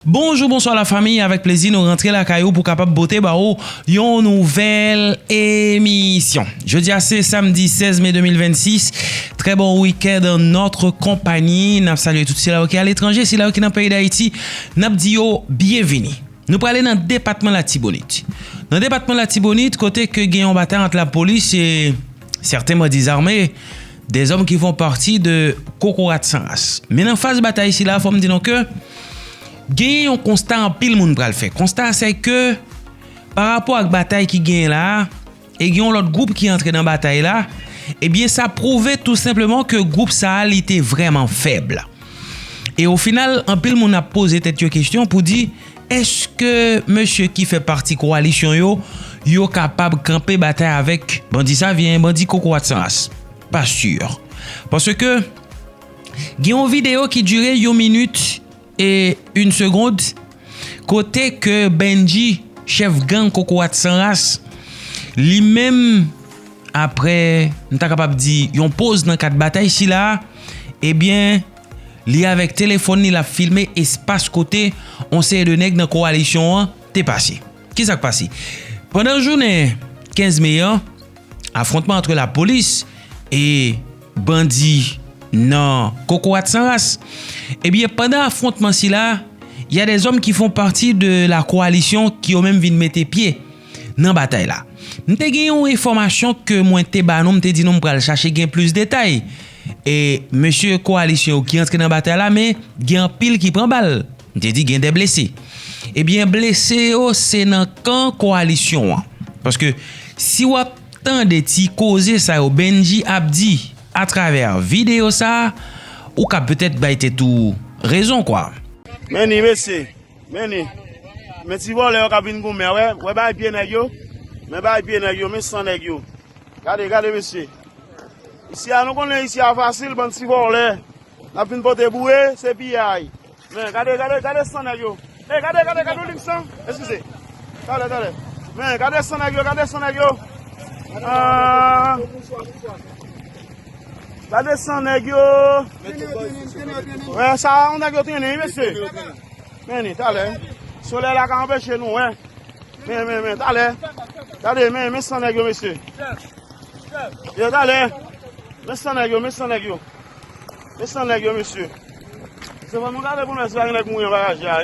Bonjou bonswa la famiy avèk plezi nou rantre lakay ou pou kapab pote ba ou yon nouvèl emisyon jodia se samdi 16 me 2026 trè bon wikèd an notre konpayi nap salye tout sila yo ki aletranje sila yo ki nan peyi dayiti nap di yo byenvini nou prale nan depatman latibonit nan depatman latibonit kote ke gen yon batay ant lapolis e sèten bandi zame Des hommes qui font partie de kokorat san ras. Men nan faz batay sila fò m di nou ke genyen yon konsta anpil moun pral fè. Konsta a se ke pa rapò ak batay ki genyen la a e gen yon lòt gwoup ki antre nan batay la ebyen sa pwouve tou senpleman ke gwoup sa a li te vrèman fèb. E o final anpil moun ap poze tèt yo kesyon pou di. Eske mesye ki fè pati kowalisyon yo, yo kapab kanpe batay avèk bandi Savyen, bandi Kokorat San Ras? Pa sur. Paske, gen yon videyo ki dire yon minit e yn segond, kote ke Bendji, chèf gang Kokorat San Ras, li menm, apre, m ta kapab di, yon poz nan kad batay sila a, ebyen, Li avèk telefòn li lap filme espas kote on seri de nèg nan kowalisyon an te pase. Kisa k pase? Pandan jounen 15 me an, afwontman antre lapolis e bandi nan Kokorat San Ras. Ebyen eh pandan afwontman sila, ya dezòm ki fon pati de la kowalisyon ki yo menm vin mete pye. Nan batay la. M te gen yon enfòmasyon ke mwen te ba nou, m te di nou m pral chache gen plis detay. E mesye kowalisyon yo ki antre nan batay la men gen anpil ki pran bal. M te di gen de blese. Ebyen blese yo se nan kan kowalisyon an. Paske si w ap tande ti koze sa yo Bendji ap di a travè videyo sa, ou kab petèt bay tèt ou rezon kwa. Men ni mesye. Men li. Men ti vòlè yo kap vin goumen a wè. Wè bagay pye nèg yo. Men bagay pye nèg yo. Men san nèg yo. Gade, gade mesye. Isi a nou konnen isi a fasil bann ti vòlè. Nap vin pote boure, se piyay. Men gade, gade, gade san nèg yo. E gade, gade, gade yon lik san. Eskize. Talè, talè. Men gade san nèg yo, gade san nèg yo. Aah. Gade san nèg yo. Wè sa yon nèg yo trennen wi mesye. Men ni talè. Solèy la ka anpeche nou wè. Men men men talè. Gade men men san nèg yo mesye. Yo talè. Men san nèg yo men san nèg yo. Men san nèg yo mesye. Se bon nou gade pou nou wè si pa gen nèg mouri anba raje a.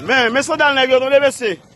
Men men san dal nèg yo tande mesye.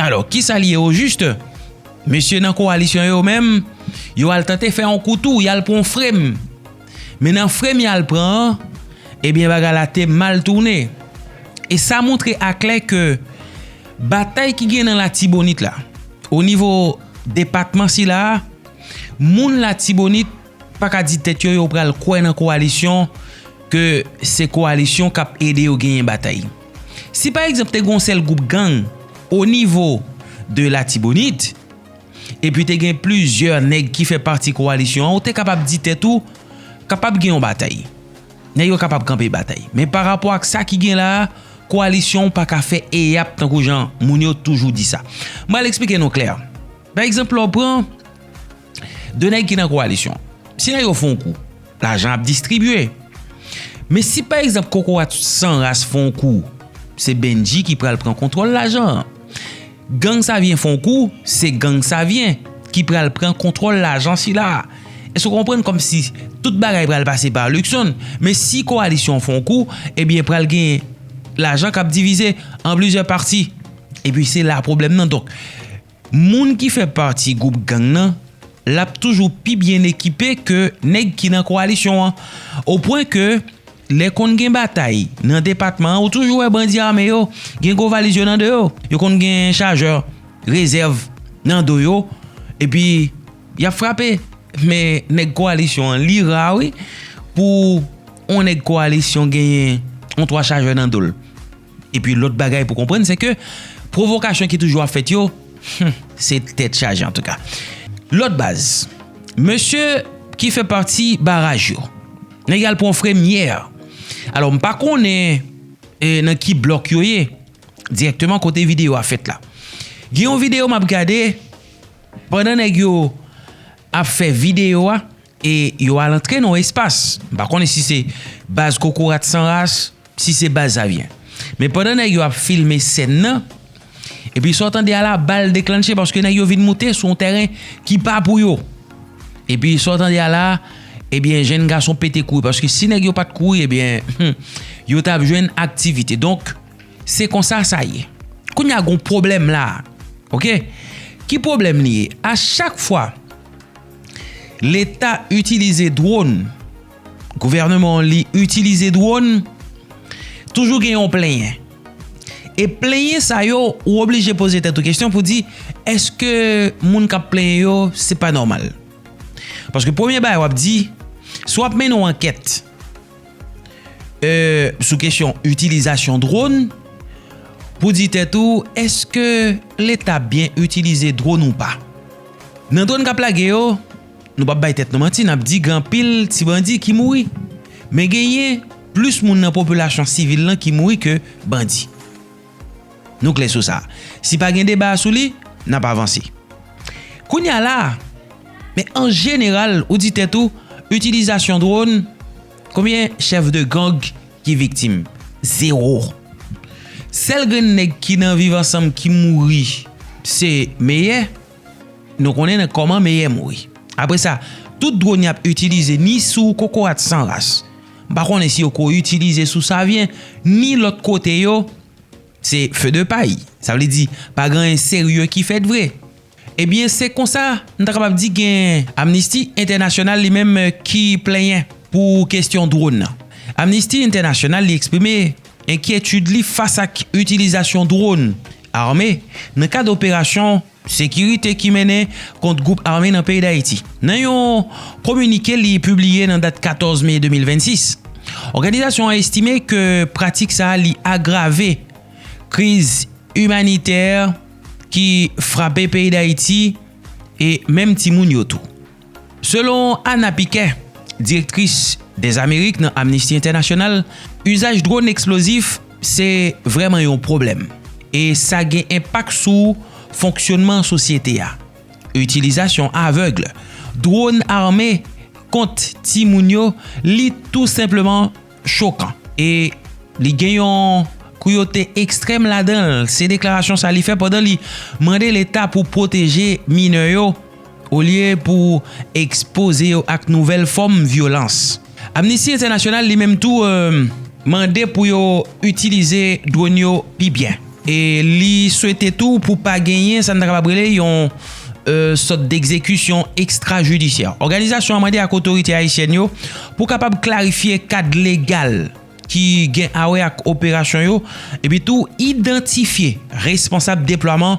Alò, ki sa li ye ojist? Mesye nan kowalisyon yo menm, yo al tante fè yon kou tou, y al pran yon frem. Men nan frem y al pran an, ebyen bagay la te mal tounen. E sa montre aklè ke batay ki gen nan Latibonit la, o nivo depatman sila a, moun Latibonit pa ka di tèt yo yo pral kwè nan kowalisyon ke se kowalisyon k ap ede yo genyen batay. Si pa egzanp te gen yon sèl gwoup gang o nivo de latibonit, epi te gen plizyè nèg ki fè pati kowalisyon an ou te kapab di tèt ou kapab gen yon batay. Nèg yo kapab kanpe batay. Men pa rapò ak sa ki gen la a, kowalisyon pa ka fè eyap tankou jan moun yo toujou di sa. M pral eksplike nou klè. Pa egzanp lè w pran 2 nèg ki nan kowalisyon. Si nèg yo fon kou, lajan ap distribye. Men si pa egzanp kokorat san ras fon kou, se Bendji ki pral pran kontwòl lajan an. Gang Savyen fon kou, se gang Savyen ki pral pran kontwòl lajan sila a. Èske w konprann kòmsi tout bagay pral pase pa Luckson? Men si kowalisyon fon kou, ebyen pral gen lajan k ap divize an plizyè pati. Epi se la pwoblèm nan donk. Moun ki fè pati gwoup gang nan l ap toujou pi byen ekipe ke nèg ki nan kowalisyon an. O pwen ke lè konn gen batay nan depatman an ou toujou wè bandi ame yo gen gwo valiz yo nan do yo. Yo konn gen chajè rezèv nan do yo epi y ap frape. Men nèg kowalisyon an li ra wi pou on nèg kowalisyon genyen on 3 chajè nan do l. Epi lòt bagay pou konprann se ke pwovokasyon ki toujou ap fèt yo, hum, se tèt chaje antouka. Lòt baz, mesye ki fè pati baraj yo, nèg yo al pran yon fremyè. Alò m pa konnen nan ki blòk yo ye, dirèkteman kote videyo a fèt la. Gen yon videyo m ap gade, pandan nèg yo ap fè videyo a, e yo al antre nan yon espas, m pa konnen si se baz kokorat san ras, Si se baz sa byen. Men pandan nèg yo ap filme sèn nan, epi sa w tande a la, bal deklannche paske nèg yo vin moute sou yon tèren ki pa pou yo. Epi sa w tande a la, ebyen jenn gason pete kouri paske si nèg yo pa t kouri ebyen yo t ap jwenn aktivite. Donk, se konsa sa ye. Kounye a gen yon pwoblèm la a. Ok. Ki pwoblèm li ye? A chak fwa Leta itilize dronn. Gouvèneman li itilize dwòn, toujou gen yon plenyen. E plenyen sa yo, ou oblije poze tèt ou kesyon pou di, eske moun kap plenyen yo, se pa nòmal. Paske premye bagay wap di, si wap mennen yon ankèt, euh, sou kesyon itilizasyon dwòn, pou di tèt ou, eske leta byen itilize dwòn ou pa? Nan dwòn kap lage yo, Nou pap bay tèt nou manti nap di gen anpil ti bandi ki mouri. Men genyen plis moun nan popilasyon sivil lan ki mouri ke bandi. Nou klè sou sa. Si pa gen deba sou li, nap avanse. Kounye a la, men an jeneral ou di tèt ou itilizasyon drone, konbyen chèf de gang ki viktim? Zewo. Sèl grenn nèg ki nan viv ansanm ki mouri se Meyè. Nou konnen nan kòman meyè mouri. Apre sa, tout dwòn y ap itilize ni sou kokorat san ras, m pa konnen si yo ko itilize sou Savyen, ni lòt kote yo, se fe de pay. Sa vle di, pa gen anyen serye ki fèt vre. Ebyen, se konsa, m ta kapab di gen Amnisti Entènasyonal li menm ki plenyen pou kestyon dwòn nan. Amnisti Entènasyonal li eksprime enkyetid li fas ak itilizasyon dwòn Ame, nan kad operasyon Sekirite ki mennen kont gwoup ame nan peyi Dayiti. Nan yon kominike li pibliye nan dat 14 me 2026, òganizasyon an estime ke pratik sa li agrave kriz imanitè ki frape peyi Dayiti e menm timoun yo tou. Selon Ana Piquet, direktris dè Amerik nan Amnisti Entènasyonal, uzaj dronn eksplozif se vrèman yon pwoblèm e sa gen enpak sou fonksyonman sosyete a. Itilizasyon avèg dronn ame kont timoun yo li tou senpleman chokan e li gen yon kruyote ekstrèm ladan l, se deklarasyon sa li fè pandan li mande leta pou pwoteje minè yo olye pou ekspoze yo ak nouvèl fòm vyolans. Amnisti Entènasyonal li menm tou mande pou yo itilize dron yo pi byen. E li swete tou pou pa genyen sa n ta kapab rele yon sòt degzekisyon ekstrajidisyè. Òganizasyon an mande ak otorite ayisyèn yo pou kapab klarifye kad legal ki gen awè ak operasyon yo epitou idantifye responsab deplwaman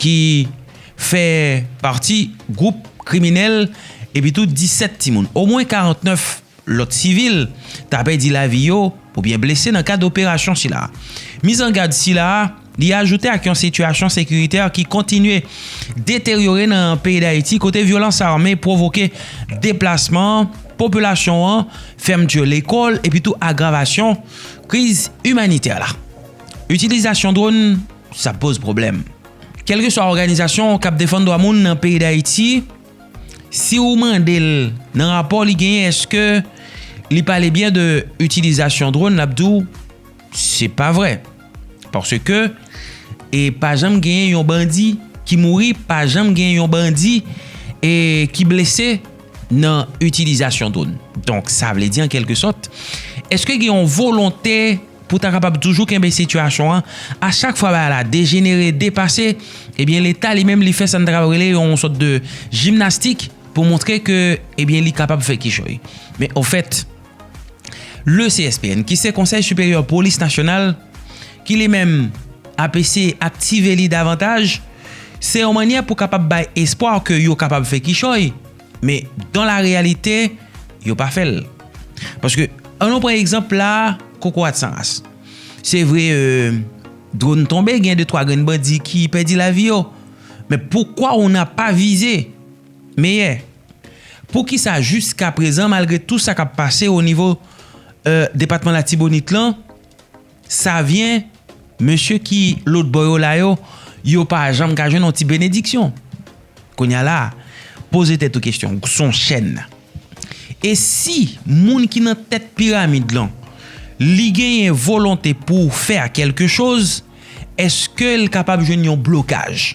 ki fè pati gwoup kriminèl epi tou 17 timoun. Omwen 49 lòt sivil ta pèdi lavi yo oubyen blese nan kad operasyon sila. Mizangad sila li ajoute ak yon sitiyasyon sekiritè ki kontinye deteryore nan peyi Dayiti kote vyolans ame pwovoke deplasman popilasyon an, fèmti lekòl epi tou agravasyon kriz imanitè la. Itilizasyon dronn. sa poz pwoblèm. Kèlkeswa òganizasyon k ap defann dwa moun nan peyi Dayiti, si ou mande l nan rapò li genyen èske li pale byen de itilizasyon dron, l ap di w se pa vre. Paske e pa janm genyen yon bandi ki mouri, pa janm genyen yon bandi e ki blese. nan itilizasyon dron. Donk sa vle di an kelke sòt, eske gen yon volonte pou ta kapab toujou kenbe sitiyasyon an, a chak fwa bagay la dejenere, depase, ebyen leta li menm li fè sa n ta kapab rele yon sòt de jimnastik pou montre ke ebyen li kapab fè kichòy. Men ofèt. Le CSPN, ki se Konsèy Siperyè Polis Nasyonal, ki li menm ap eseye aktive li davantaj, se yon mannyè pou kapab bay espwa ke yo kapab fè kichòy, men dan la reyalite, yo pa fè l. Paske, an nou pran egzanp la, kokorat san ras. Se vre, dronn tonbe, gen de twa grenn bandi ki pèdi lavi yo, men poukwa ou nan pa vize? Meyè. Poukisa jiska prezan malgre tou sa kap pase o nivo depatman latibonit lan savyen mesye ki lòt bò yo la yo yo pa janm ka jwenn yon ti benediksyon kounya la poze tèt ou kesyon son chèn e si moun ki nan tèt piramid lan li genyen volonte pou fè a kelke choz eske l kapab jwenn yon blokaj.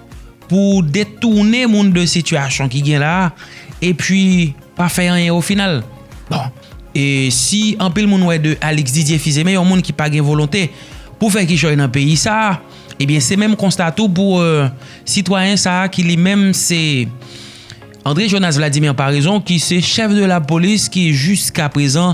pou detounen moun de sitiyasyon ki gen la, epi pa fè anyen o final. Bon, e si anpil moun wè de Alix Didier Fils-Aimé yon moun ki pa gen volonte pou fè kichòy nan peyi sa, ebyen se menm konsta tou pou sitwayen sa ki li menm se André Jonas Vladimir Paraison ki se chèf de lapolis ki jiskaprezan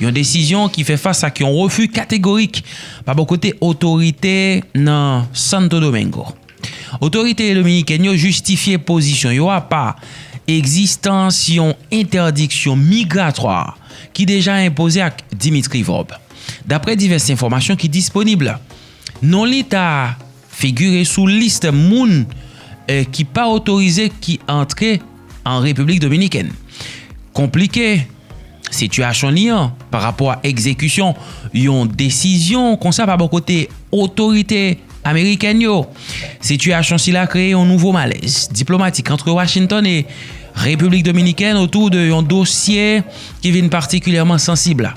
Yon desizyon ki fè fas ak yon refi kategorik pa bò kote otorite nan Santo Domingo. Otorite dominikèn yo jistifye pozisyon yo a pa egzistans yon entèdiksyon migratwa ki deja enpoze ak Dimitri Vorbe. Daprè divès enfòmasyon ki disponib, non li ta. Figure sou list moun ki pa otorize ki antre an Repiblik Dominikèn. Konplike sitiyasyon li an pa rapò a egzekisyon yon desizyon konsa pa bò kote otorite amerikèn yo. Sitiyasyon sila kreye yon nouvo malèz diplomatik antre Washington e Repiblik Dominikèn otou de yon dosye ki vin patikilyèman sansib la.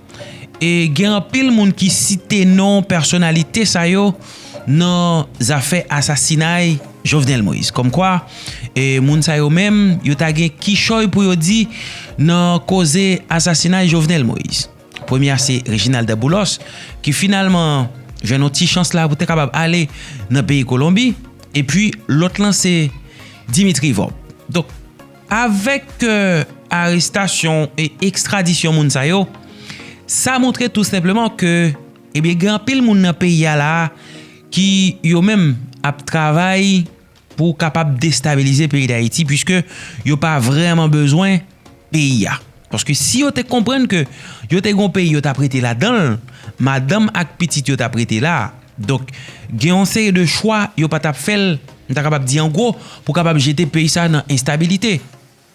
E gen anpil moun ki site non pèsonalite sa yo nan zafè asasinay Jovenel Moïse. Kòm kwa, moun sa yo menm, yo ta gen kichòy pou yo di nan koze asasinay Jovenel Moïse. Premye a se Reginald Boulos ki finalman jwenn yon ti chans la pou te kapab ale nan peyi Kolonbi. E pi lòt lan se Dimitri Vorbe. Avèk arestasyon e ekstradisyon moun sa yo, sa montre tou senpleman ke ebyen gen anpil moun nan peyi a la a ki yo menm ap travay pou kapab destabilize peyi Dayiti pwiske yo pa vrèman bezwen peyi a. Paske si yo te konprann ke yo te gen yon peyi yo tap rete ladanl, madanm ak pitit yo tap rete la. Donk gen yon seri de chwa yo pa tap fèl, m ta kapab di an gwo, pou kapab jete peyi sa nan enstabilite.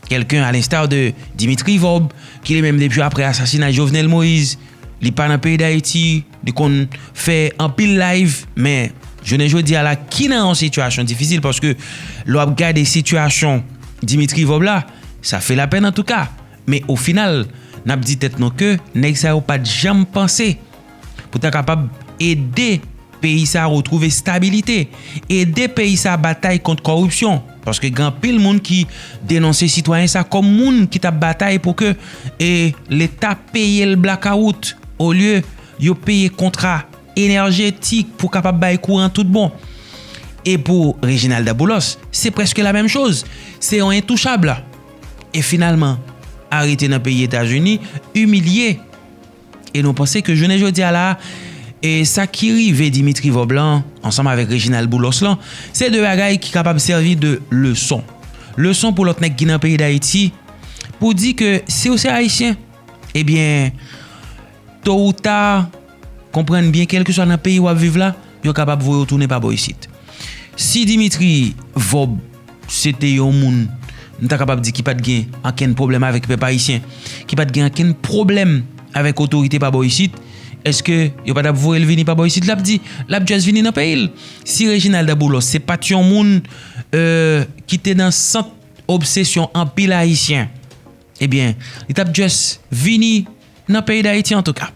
Kèlken a lenstar de Dimitri Vorb, ki li menm depi aprè asasinay Jovenel Moïse, li pa nan peyi Dayiti, li konn fè anpil layv, men jounen jodi a la ki nan yon sitiyasyon difisil paske lè wap gade sitiyasyon Dimitri Vorb la, Sa fè lapèn antouka, men o final n ap di tèt nou ke nèg sa yo pa t janm panse pou ta kapab ede peyi sa retwouve estabilite, ede peyi sa batay kont kòripsyon, paske gen anpil moun ki denonse sitwayen sa kòm moun ki t ap batay pou ke leta peye l blakawout olye yo peye kontra enèjetik pou kapab bay kouran tout bon. E pou Reginald Daboulos, se prèske la menm choz, se yon entouchab. E finalman, arete nan peyi Etazini, imilye. E nou panse ke jounen jodi a la, e sa ki rive Dimitri Vob lan, ansanm avèk Reginald Boulos lan, se de bagay ki kapab sèvi de leson. Leson pou lòt nèg ki nan peyi Dayiti, pou di ke si ou se Ayisyen, ebyen, To ou ta, konprann byen kèlkeswa nan peyi wap viv la, yo kapab voye w tounen pa bò isit. Si Dimitri Vorbe se te yon moun, m ta kapab di ki pat gen ankenn pwoblèm avèk pèp ayisyen, ki pat gen ankenn pwoblèm avèk otorite pa bò isit, èske yo pa tap voye l vini pa bò isit? Lap di, lap just vini nan peyi l. Si Reginald Boulos se pat yon moun ki te nan sant. obsesyon anpil ayisyen ebyen li tap just vini nan peyi dayiti antouka.